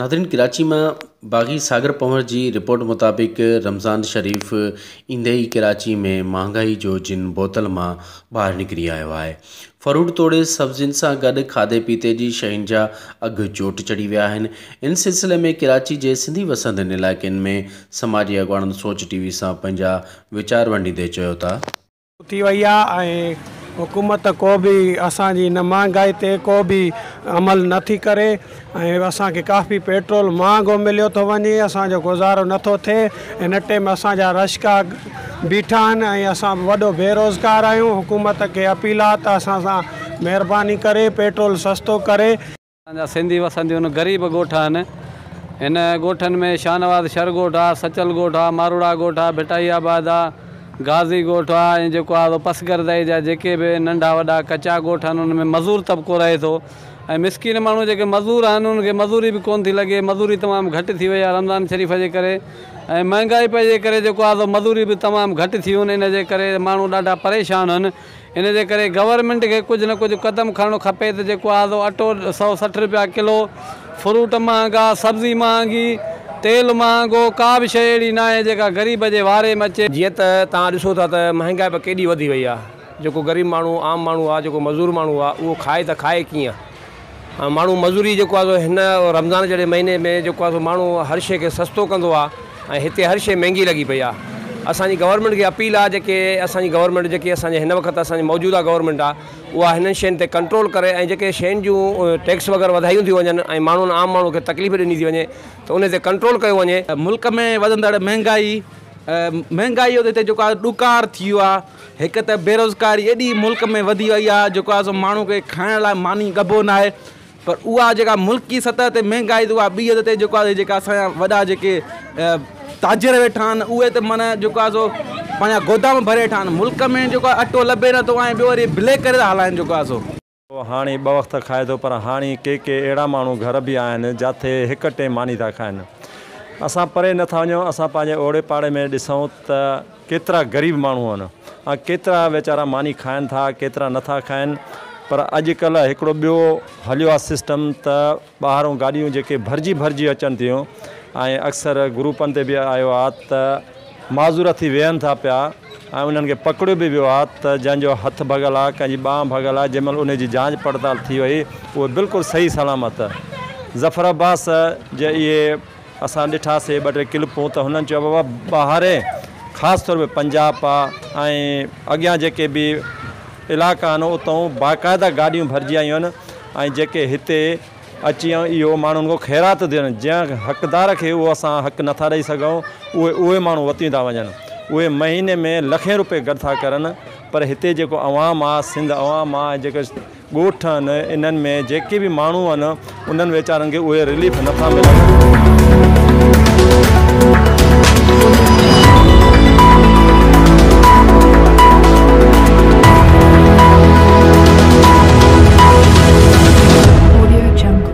ناظرين ڪراچي مان باغي ساگر پنور جي رپورٽ مطابق رمضان شريف ايندي ئي ڪراچي ۾ مهانگائي جو جن بوتل مان ٻاهر نڪري آيو آهي فروٽ توڙي سبزين سان گڏ کاڌي پيتي جي شين جا اگهه چوٽ چڙهي ويا آهن، ان سلسلي ۾ ڪراچي جي سنڌي وسندين علائقن ۾ سماجي اڳواڻن سوچ ٽي وي سان پنهنجا ويچار ونڊيندي چيو ته. ٿي وئي آهي ۽ حڪومت ڪو به اسان جي هن مهانگائي تي ڪو به عمل نٿي ڪري. ۽ اسان کي ڪافي پيٽرول مهانگو مليو ٿو وڃي اسان جو گذارو نٿو ٿئي ان اٽي ۾ اسان جا رشڪا بيٺا آهن ۽ اسان وڏو بيروزگار آهيون حڪومت کي اپيل آهي ته اسان سان مهرباني ڪري پيٽرول سستو ڪري. اسان جا سنڌي وسنديون غريب ڳوٺ آهن هن ڳوٺن ۾ شاهنواز شھر ڳوٺ آ سچل ڳوٺ آ ماروڙا ڳوٺ آ ڀٽائي آباد آ غازي ڳوٺ آ ۽ جيڪو آ سو پسگردائي جا جيڪي به ننڍا وڏا ڪچا ڳوٺ آهن ان ۾ مزور طبقو رهي ٿو ۽ مسڪين ماڻهو جيڪي مزور آهن انهن کي مزوري به ڪونه ٿي لڳي مزوري تمام گهٽ ٿي وئي آهي رمضان شريف جي ڪري ۽ مهنگائي پئي جي ڪري جيڪو آهي سو مزوري به تمام گهٽ ٿيون ان جي ڪري ماڻهو ڏاڍا پريشان هن ان جي ڪري گورنمينٽ کي ڪجهه نه ڪجهه قدم کڻڻو کپي ته جيڪو آهي سو اٽو سؤ سٺ روپيا ڪلو فروٽ مهانگا سبزي مهانگي تيل مهانگو ڪا به شيء اهڙي ناهي جيڪا غريب جي واري ۾ اچي. جيئن ته توهان ڏسو ٿا ته مهنگائي به ڪيڏي وڌي وئي آهي. جيڪو غريب ماڻهو عام ماڻهو آ جيڪو مزور ماڻهو آ اهو کائي ته کائي ڪيئن ۽ ماڻهو مزوري جيڪو آ سو هن رمضان جهڙي مهيني ۾ جيڪو آ سو ماڻهو هر شي کي سستو ڪندو آ ۽ هتي هر شي مهنگي لڳي پئي آ اسان جي گورنمينٽ کي اپيل آ جيڪي اسان جي گورنمينٽ جيڪي اسان جي هن وقت اسان جي موجوده گورنمينٽ آ اها هنن شين تي ڪنٽرول ڪري ۽ جيڪي شين جون ٽيڪس وغيره وڌايون ٿيون وڃن ۽ ماڻهن عام ماڻهو کي تڪليف ڏني ٿي وڃي ته ان تي ڪنٽرول ڪيو وڃي. ملڪ ۾ وڌندڙ مهنگائي مهنگائي تي جيڪو آ ڏڪار ٿي ويو آ. هڪ ته بيروزگاري ايڏي ملڪ ۾ وڌي وئي آهي جيڪو آهي سو ماڻهو کي کائڻ لاء ماني ڳڀو ناهي پر اها جيڪا ملڪي سطح تي مهنگائي ته اها ٻي حد تي جيڪو آهي جيڪا اسان جا وڏا جيڪي تاجر ويٺا آهن اهي ته معنيٰ جيڪو آهي سو پنهنجا گودام ڀري ويٺا آهن ملڪ ۾ جيڪو آهي اٽو لڀي نٿو ۽ ٻيو وري بليڪ ڪري ٿا هلائن جيڪو آهي سو هو هاڻي ٻه وقت کائي ٿو پر هاڻي ڪي ڪي اهڙا ماڻهو گهر به آهن جاٿي هڪ ٽيم ماني ٿا کائن. اسان پري نه ٿا وڃون اسان پنهنجي اوڙي پاڙي ۾ ڏسون ته ڪيترا غريب ماڻهو آهن ۽ ڪيترا ويچارا ماني کائن ٿا ڪيترا نه ٿا کائن پر اڄ ڪلهه هڪڙو ٻيو هليو آهي سسٽم ته ٻاهرون گاڏيون جيڪي ڀرجي ڀرجي اچن ٿيون ۽ اڪثر گروپن تي به آيو آ ته معذور ٿي ويهن ٿا پيا ۽ انهن کي پڪڙيو به ويو آ ته جنهن جو هٿ ڀڳل آ ڪنهن جي ٻانهن ڀڳل آ جنهن مهل انهي جي جانچ پڙتال ٿي وئي اهي بلڪل صحيح سلامت ظفر عباس جي اهي اسان ڏٺا سي ٻه ٽي ڪلپون ته هنن چيو بابا ٻاهرين خاص طور ۾ پنجاب پا ۽ اڳيان جيڪي به علائقا آهن اتئون باقاعده گاڏيون ڀرجي آيون آهن ۽ جيڪي هتي اچي ۽ اهو ماڻهن کان خيرات ڏين جنهن حقدار کي اهو اسان حق نٿا ڏئي سگهون اهي اهي ماڻهو وتيون ٿا وڃن اهي مهيني ۾ لکين روپي گڏ ٿا ڪرن پر هتي جيڪو عوام آ سنڌ عوام آ ۽ جيڪو ڳوٺ آهن انهن ۾ جيڪي به ماڻهو آهن انهن ويچارن کي اهي رليف نٿا ملن.